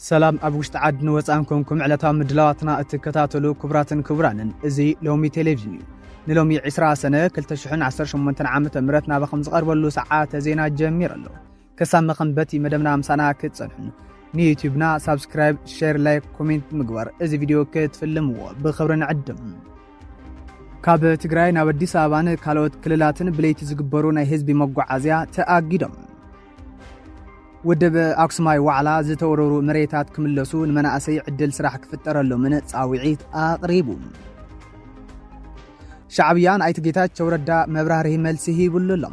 ሰላም ኣብ ውሽጢ ዓድን ወፃን ኮንኩም ዕለታዊ ምድላዋትና እትከታተሉ ክቡራትን ክቡራንን እዚ ሎሚ ቴሌቪዥን እዩ ንሎሚ 20 ሰነ 2018 ዓ ም ናባኹም ዝቐርበሉ ሰዓተ ዜና ጀሚሩ ኣሎ ክሳብ መኸንበቲ መደብና ምሳና ክትጸንሑ ንዩቲዩብና ሳብስክራይብ፣ ሼር፣ ላይክ፣ ኮሜንት ምግባር እዚ ቪድዮ ክትፍልምዎ ብኽብሪ ንዕድም። ካብ ትግራይ ናብ ኣዲስ ኣበባን ካልኦት ክልላትን ብለይቲ ዝግበሩ ናይ ህዝቢ መጓዓዝያ ተኣጊዶም። ውድብ ኣክሱማይ ዋዕላ ዝተወረሩ መሬታት ክምለሱ ንመናእሰይ ዕድል ስራሕ ክፍጠረሎምን ፃውዒት ኣቕሪቡ። ሻዕብያ ንኣይት ጌታቸው ረዳ መብራህርሂ መልሲ ሂብሉ ኣሎ።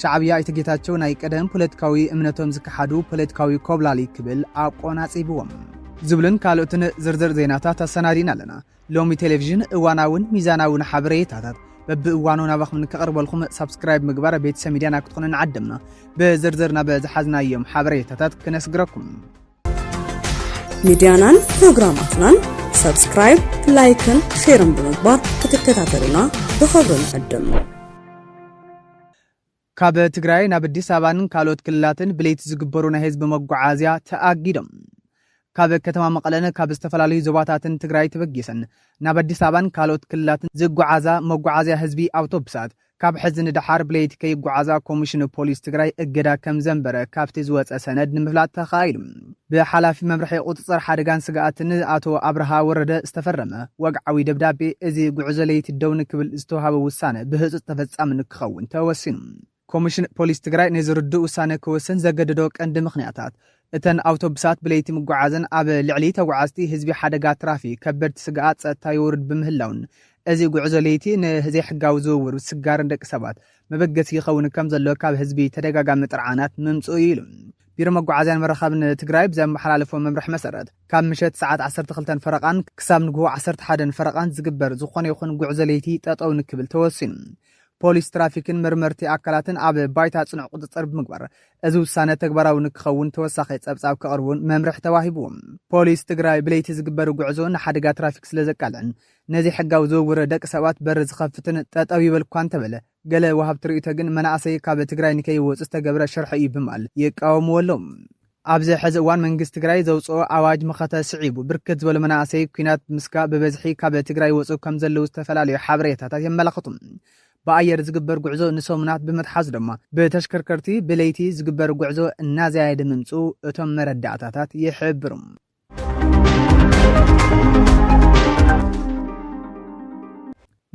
ሻዕብያ ኣይተ ጌታቸው ናይ ቀደም ፖለቲካዊ እምነቶም ዝከሓዱ ፖለቲካዊ ኮብላሊ ክብል ኣቆናጺብዎም። ዝብልን ካልኦትን ዝርዝር ዜናታት ኣሰናዲና ኣለና። ሎሚ ቴሌቪዥን እዋናውን ሚዛናውን ሓበሬታታት በብእዋኑ ናባኹም ንከቕርበልኩም ሳብስክራይብ ምግባር ቤተሰብ ሚድያና ክትኾኑ ንዓደምና ብዝርዝር ናብ ዝሓዝናዮም ሓበሬታታት ክነስግረኩም ሚድያናን ፕሮግራማትናን ሰብስክራይብ፣ ላይክን ሼርን ብምግባር ክትከታተሉና ብኸብሪ ንዕድም። ካብ ትግራይ ናብ ኣዲስ ኣበባን ካልኦት ክልላትን ብለይቲ ዝግበሩ ናይ ህዝቢ መጓዓዝያ ተኣጊዶም ካብ ከተማ መቐለን ካብ ዝተፈላለዩ ዞባታትን ትግራይ ተበጊሰን ናብ ኣዲስ ኣበባን ካልኦት ክልላትን ዝጓዓዛ መጓዓዝያ ህዝቢ ኣውቶቡሳት ካብ ሕዚ ንደሓር ብለይቲ ከይጓዓዛ ኮሚሽን ፖሊስ ትግራይ እገዳ ከምዘንበረ ካብቲ ዝወፀ ሰነድ ንምፍላጥ ተኻኢሉ። ብሓላፊ መምርሒ ቁፅፅር ሓደጋን ስግኣትን ኣቶ ኣብርሃ ወረደ ዝተፈረመ ወግዓዊ ደብዳቤ እዚ ጉዕዞ ለይቲ ደው ንክብል ዝተውሃበ ውሳነ ብህፁፅ ተፈፃሚ ንክኸውን ተወሲኑ። ኮሚሽን ፖሊስ ትግራይ ነዚ ርዱእ ውሳነ ክወስን ዘገደዶ ቀንዲ ምኽንያታት እተን ኣውቶብሳት ብለይቲ ምጉዓዘን ኣብ ልዕሊ ተጉዓዝቲ ህዝቢ ሓደጋ ትራፊክ ከበድቲ ስግኣት ፀጥታ የውርድ ብምህላዉን እዚ ጉዕዞ ለይቲ ንዘይሕጋዊ ዝውውር ስጋር ደቂ ሰባት መበገሲ ይኸውን ከምዘሎ ካብ ህዝቢ ተደጋጋሚ ጥርዓናት ምምፅኡ እዩ ኢሉ። ቢሮ መጓዓዝያን መራኸብን ትግራይ ብዘመሓላለፎ መምርሒ መሰረት ካብ ምሸት ሰዓት ዓሰርተ ክልተ ፈረቓን ክሳብ ንግሆ ዓሰርተ ሓደ ፈረቓን ዝግበር ዝኾነ ይኹን ጉዕዞ ለይቲ ጠጠው ንክብል ተወሲኑ። ፖሊስ ትራፊክን መርመርቲ ኣካላትን ኣብ ባይታ ፅኑዕ ቁፅፅር ብምግባር እዚ ውሳነ ተግባራዊ ንክኸውን ተወሳኺ ፀብፃብ ከቕርቡን መምርሒ ተዋሂቡ። ፖሊስ ትግራይ ብለይቲ ዝግበር ጉዕዞ ንሓደጋ ትራፊክ ስለዘቃልዕን ነዚ ሕጋዊ ዝውውር ደቂ ሰባት በር ዝኸፍትን ጠጠው ይበል እኳ እንተበለ ገለ ወሃብቲ ርእይቶ ግን መናእሰይ ካብ ትግራይ ንከይወፁ ዝተገብረ ሽርሒ እዩ ብምባል ይቃወምዎ ኣለው። ኣብዚ ሕዚ እዋን መንግስቲ ትግራይ ዘውፅኦ ኣዋጅ መኸተ ስዒቡ ብርክት ዝበሉ መናእሰይ ኩናት ብምስጋእ ብበዝሒ ካብ ትግራይ ይወፅኡ ከምዘለዉ ዝተፈላለዩ ሓበሬታታት የመላኽቱ። ብኣየር ዝግበር ጉዕዞ ንሰሙናት ብምትሓዙ ድማ ብተሽከርከርቲ ብለይቲ ዝግበር ጉዕዞ እናዘያየደ ምምፅኡ እቶም መረዳእታታት ይሕብሩ።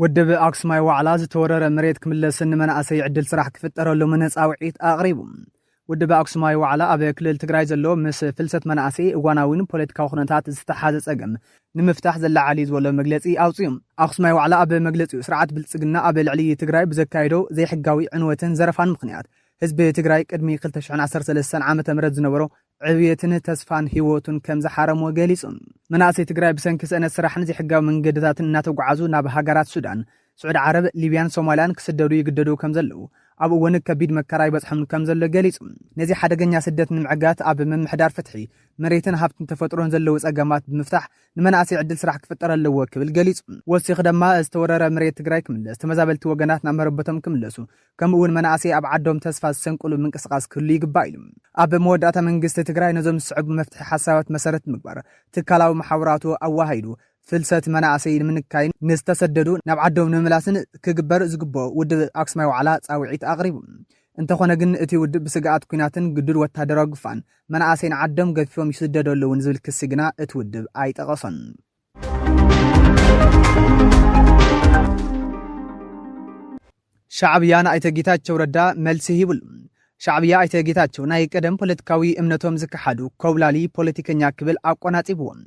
ወደብ ኣክሱማይ ዋዕላ ዝተወረረ መሬት ክምለስን ንመናእሰይ ዕድል ስራሕ ክፍጠረሎምን ፃውዒት ኣቕሪቡ ወደብ ኣክሱማይ ዋዕላ ኣብ ክልል ትግራይ ዘሎ ምስ ፍልሰት መናእሰይ እዋናዊን ፖለቲካዊ ኩነታት ዝተሓዘ ፀገም ንምፍታሕ ዘላዓል እዩ ዝበሎ መግለፂ ኣውፅኡ ኣክሱማይ ዋዕላ ኣብ መግለፂኡ ስርዓት ብልፅግና ኣብ ልዕሊ ትግራይ ብዘካይዶ ዘይሕጋዊ ዕንወትን ዘረፋን ምክንያት ህዝቢ ትግራይ ቅድሚ 2013 ዓ ም ዝነበሮ ዕብየትን ተስፋን ህይወቱን ከምዝሓረሞ ገሊፁ። መናእሰይ ትግራይ ብሰንኪ ስእነት ስራሕን ዘይሕጋዊ መንገድታትን እናተጓዓዙ ናብ ሃገራት ሱዳን፣ ስዑዲ ዓረብ፣ ሊብያን ሶማልያን ክስደዱ ይግደዱ ከምዘለዉ ኣብ እወን ከቢድ መከራ ይበፅሖም ከምዘሎ ገሊፁ። ነዚ ሓደገኛ ስደት ንምዕጋት ኣብ ምምሕዳር ፍትሒ፣ መሬትን ሃፍትን ተፈጥሮን ዘለዉ ፀገማት ብምፍታሕ ንመናእሰይ ዕድል ስራሕ ክፍጠር ኣለዎ ክብል ገሊፁ። ወሲኹ ደማ ዝተወረረ መሬት ትግራይ ክምለስ፣ ተመዛበልቲ ወገናት ናብ መረበቶም ክምለሱ፣ ከምኡ'ውን መናእሰይ ኣብ ዓዶም ተስፋ ዝሰንቅሉ ምንቅስቓስ ክህሉ ይግባእ ኢሉ። ኣብ መወዳእታ መንግስቲ ትግራይ ነዞም ዝስዕቡ መፍትሒ ሓሳባት መሰረት ብምግባር ትካላዊ መሓውራቱ ኣወሃሂዱ ፍልሰት መናእሰይ ንምንካይን ንዝተሰደዱ ናብ ዓዶም ንምምላስን ክግበር ዝግበኦ ውድብ ኣክሱማይ ዋዕላ ፃውዒት ኣቕሪቡ። እንተኾነ ግን እቲ ውድብ ብስግኣት ኲናትን ግዱድ ወታደራዊ ግፋን መናእሰይ ንዓዶም ገፊፎም ይስደዱ ኣለዉን ዝብል ክሲ ግና እቲ ውድብ ኣይጠቐሶን። ሻዕብያ ንኣይተ ጌታቸው ረዳ መልሲ ሂብሉ። ሻዕብያ ኣይተ ጌታቸው ናይ ቀደም ፖለቲካዊ እምነቶም ዝከሓዱ ኮብላሊ ፖለቲከኛ ክብል ኣቆናጺብዎም።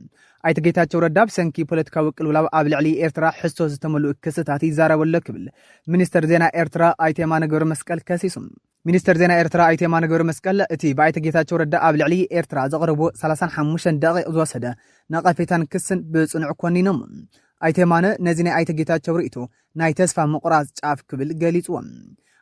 ኣይተ ጌታቸው ረዳ ብሰንኪ ፖለቲካዊ ቅልውላብ ኣብ ልዕሊ ኤርትራ ሕሶ ዝተመልኡ ክስታት ይዛረበሎ ክብል ሚኒስተር ዜና ኤርትራ ኣይተ የማነ ገብረ መስቀል ከሲሱ። ሚኒስተር ዜና ኤርትራ ኣይተ የማነ ገብረመስቀል፣ እቲ ብኣይተ ጌታቸው ረዳ ኣብ ልዕሊ ኤርትራ ዘቕረብዎ ሰላሳን ሓሙሽተን ደቒቕ ዝወሰደ ነቐፌታን ክስን ብጽኑዕ ኮኒኖሞ። ኣይተ የማነ ነዚ ናይ ኣይተ ጌታቸው ርእይቶ ናይ ተስፋ ምቑራጽ ጫፍ ክብል ገሊጽዎ።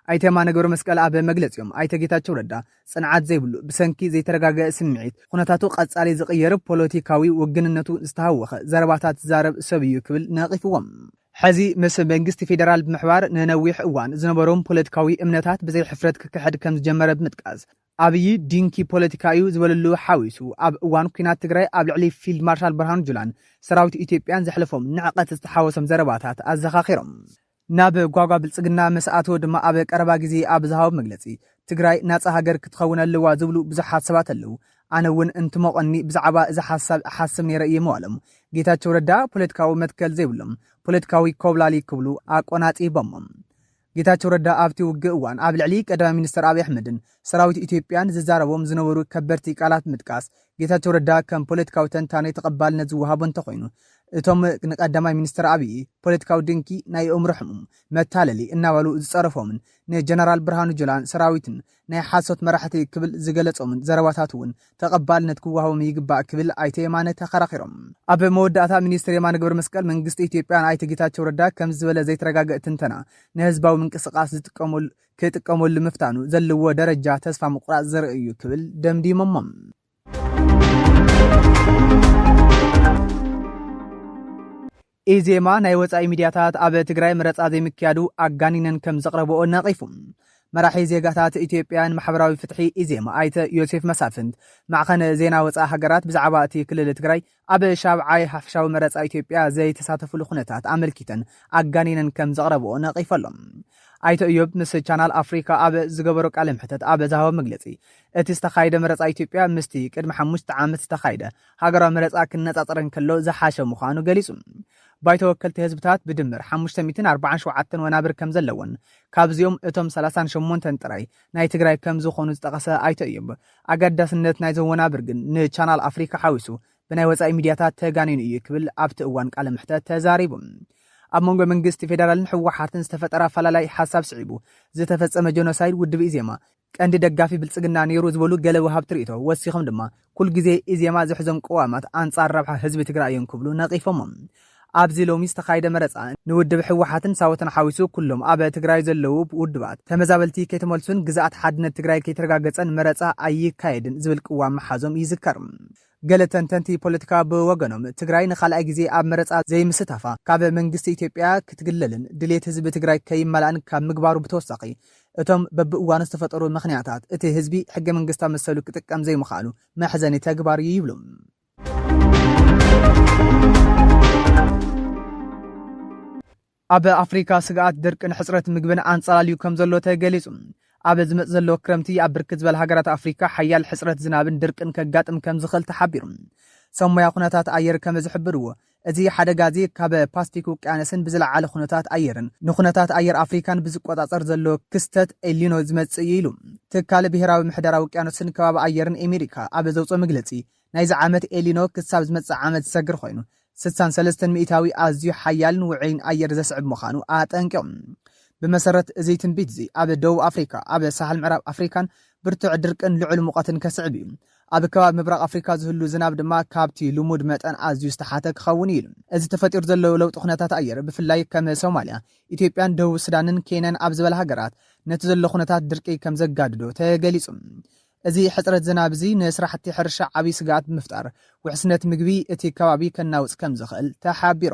ኣይተ የማነ ገብረመስቀል ኣብ መግለጺኦም፣ ኣይተ ጌታቸው ረዳ ጽንዓት ዘይብሉ፣ ብሰንኪ ዘይተረጋገ ስምዒት፣ ኹነታቱ ቀጻሊ ዝቕየር፣ ፖለቲካዊ ውግንነቱ ዝተሃወኸ ዘረባታት ዝዛረብ ሰብ'ዩ ክብል ነቒፍዎም። ሕዚ ምስ መንግስቲ ፌደራል ብምሕባር ንነዊሕ እዋን ዝነበሮም ፖለቲካዊ እምነታት ብዘይ ሕፍረት ክክሕድ ከም ዝጀመረ ብምጥቃስ፣ ኣብዪ ድንኪ ፖለቲካ እዩ ዝበለሉ ሓዊሱ ኣብ እዋን ኲናት ትግራይ ኣብ ልዕሊ ፊልድ ማርሻል ብርሃኑ ጁላን ሰራዊት ኢትዮጵያን ዘሕለፎም ንዕቐት ዝተሓወሶም ዘረባታት ኣዘኻኺሮም። ናብ ጓጓ ብልፅግና ምስ ኣተወ ድማ ኣብ ቀረባ ግዜ ኣብ ዝሃቦ መግለፂ ትግራይ ናፃ ሃገር ክትኸውን ኣለዋ ዝብሉ ብዙሓት ሰባት ኣለዉ፣ ኣነ እውን እንትሞቐኒ ብዛዕባ እዚ ሓሳብ እሓስብ ነይረ እየ ምባሎም ጌታቸው ረዳ ፖለቲካዊ መትከል ዘይብሎም ፖለቲካዊ ኮብላሊ ክብሉ ኣቆናጺቦሞም። ጌታቸው ረዳ ኣብቲ ውግእ እዋን ኣብ ልዕሊ ቀዳማይ ሚኒስተር ኣብይ ኣሕመድን ሰራዊት ኢትዮጵያን ዝዛረቦም ዝነበሩ ከበድቲ ቃላት ምጥቃስ ጌታቸው ረዳ ከም ፖለቲካዊ ተንታኒ ተቐባልነት ዝወሃቦ እንተኾይኑ እቶም ንቀዳማይ ሚኒስተር ኣብይ ፖለቲካዊ ድንኪ ናይ የእምሮ ሕሙም መታለሊ እናበሉ ዝጸረፎምን ንጀነራል ብርሃኑ ጁላን ሰራዊትን ናይ ሓሶት መራሕቲ ክብል ዝገለፆምን ዘረባታት እውን ተቐባልነት ክወሃቦም ይግባእ ክብል ኣይተ የማነ ተኸራኺሮም። ኣብ መወዳእታ ሚኒስትር የማነ ገብረመስቀል መንግስቲ ኢትዮጵያ ንኣይተ ጌታቸው ረዳ ከምዚ ዝበለ ዘይተረጋገእ ትንተና ንህዝባዊ ምንቅስቓስ ዝጥቀመሉ ክጥቀመሉ ምፍታኑ ዘለዎ ደረጃ ተስፋ ምቑራፅ ዘርኢ እዩ ክብል ደምዲሞሞ። ኢዜማ ናይ ወፃኢ ሚድያታት ኣብ ትግራይ መረፃ ዘይምክያዱ ኣጋኒነን ከም ዘቕረበኦ ነቒፉ። መራሒ ዜጋታት ኢትዮጵያን ማሕበራዊ ፍትሒ ኢዜማ ኣይተ ዮሴፍ መሳፍንት ማዕኸን ዜና ወፃኢ ሃገራት ብዛዕባ እቲ ክልል ትግራይ ኣብ ሻብዓይ ሓፈሻዊ መረጻ ኢትዮጵያ ዘይተሳተፍሉ ኩነታት ኣመልኪተን ኣጋኒነን ከም ዘቕረብኦ ነቒፈ'ሎ። ኣይተ እዮብ ምስ ቻናል ኣፍሪካ ኣብ ዝገበሮ ቃለ መሕተት ኣብ ዝሃቦ መግለጺ፣ እቲ ዝተኻየደ መረጻ ኢትዮጵያ ምስቲ ቅድሚ ሓሙሽተ ዓመት ዝተኻየደ ሃገራዊ መረጻ ክነጻጸር እንከሎ ዝሓሸ ምዃኑ ገሊጹ። ባይቶ ወከልቲ ህዝብታት ብድምር ሓሙሽተ ሚእትን ኣርባዓን ሸውዓተን ወናብር ከም ዘለዎን ካብዚኦም እቶም ሰላሳን ሸሞንተን ጥራይ ናይ ትግራይ ከም ዝኾኑ ዝጠቐሰ ኣይተ እዮብ፣ ኣገዳስነት ናይዞም ወናብር ግን ንቻናል ኣፍሪካ ሓዊሱ ብናይ ወፃኢ ሚድያታት ተጋኒኑ እዩ ክብል ኣብቲ እዋን ቃለ መሕተት ተዛሪቡ። ኣብ መንጎ መንግስቲ ፌደራልን ህወሓትን ዝተፈጠረ ኣፈላላይ ሓሳብ ስዒቡ ዝተፈፀመ ጀኖሳይድ ውድብ ኢዜማ ቀንዲ ደጋፊ ብልፅግና ነይሩ ዝበሉ ገለ ወሃብቲ ሪኢቶ ወሲኾም ድማ ኩልግዜ ኢዜማ ዝሕዞም ቅዋማት ኣንፃር ረብሓ ህዝቢ ትግራይ እዮም ክብሉ ነቒፎምም። ኣብዚ ሎሚ ዝተኻየደ መረፃ ንውድብ ህወሓትን ሳወትን ሓዊሱ ኩሎም ኣብ ትግራይ ዘለዉ ውድባት ተመዛበልቲ ከይተመልሱን ግዝኣት ሓድነት ትግራይ ከይተረጋገፀን መረፃ ኣይካየድን ዝብል ቅዋም ምሓዞም ይዝከር። ገለ ተንተንቲ ፖለቲካ ብወገኖም ትግራይ ንኻልኣይ ግዜ ኣብ መረፃ ዘይምስታፋ ካብ መንግስቲ ኢትዮጵያ ክትግለልን ድልየት ህዝቢ ትግራይ ከይማላእን ካብ ምግባሩ ብተወሳኺ እቶም በብእዋኑ ዝተፈጠሩ ምኽንያታት፣ እቲ ህዝቢ ሕገ መንግስታዊ መሰሉ ክጥቀም ዘይምኽኣሉ መሕዘኒ ተግባር እዩ ይብሉ። ኣብ ኣፍሪካ ስግኣት ድርቅን ሕፅረት ምግብን ኣንፀላልዩ ከም ዘሎ ተገሊፁ። ኣብ ዝመፅ ዘሎ ክረምቲ ኣብ ብርክት ዝበል ሃገራት ኣፍሪካ ሓያል ሕፅረት ዝናብን ድርቅን ከጋጥም ከም ዝኽእል ተሓቢሩ። ሰብ ሞያ ኩነታት ኣየር ከም ዝሕብርዎ እዚ ሓደጋ እዚ ካብ ፓስፊክ ውቅያነስን ብዝለዓለ ኩነታት ኣየርን ንኩነታት ኣየር ኣፍሪካን ብዝቆፃፀር ዘሎ ክስተት ኤልኒኖ ዝመፅእ እዩ ኢሉ ትካል ብሄራዊ ምሕደራ ውቅያኖስን ከባቢ ኣየርን ኤሜሪካ ኣብ ዘውፅኦ መግለፂ። ናይዚ ዓመት ኤልኒኖ ክሳብ ዝመፅእ ዓመት ዝሰግር ኮይኑ ስሳን ሰለስተን ሚኢታዊ ኣዝዩ ሓያልን ውዑይን ኣየር ዘስዕብ ምዃኑ ኣጠንቂቑ። ብመሰረት እዚ ትንቢት እዚ ኣብ ደቡብ ኣፍሪካ፣ ኣብ ሳሕል ምዕራብ ኣፍሪካን ብርቱዕ ድርቅን ልዑል ሙቐትን ከስዕብ እዩ። ኣብ ከባቢ ምብራቕ ኣፍሪካ ዝህሉ ዝናብ ድማ ካብቲ ልሙድ መጠን ኣዝዩ ዝተሓተ ክኸውን እዩ ኢሉ። እዚ ተፈጢሩ ዘሎ ለውጢ ኩነታት ኣየር ብፍላይ ከም ሶማልያ፣ ኢትዮጵያን ደቡብ ሱዳንን ኬንያን ኣብ ዝበላ ሃገራት ነቲ ዘሎ ኩነታት ድርቂ ከምዘጋድዶ ተገሊፁ። እዚ ሕፅረት ዝናብ እዚ ንስራሕቲ ሕርሻ ዓብዪ ስግኣት ብምፍጣር ውሕስነት ምግቢ እቲ ከባቢ ከናውፅ ከምዝኽእል ተሓቢሩ።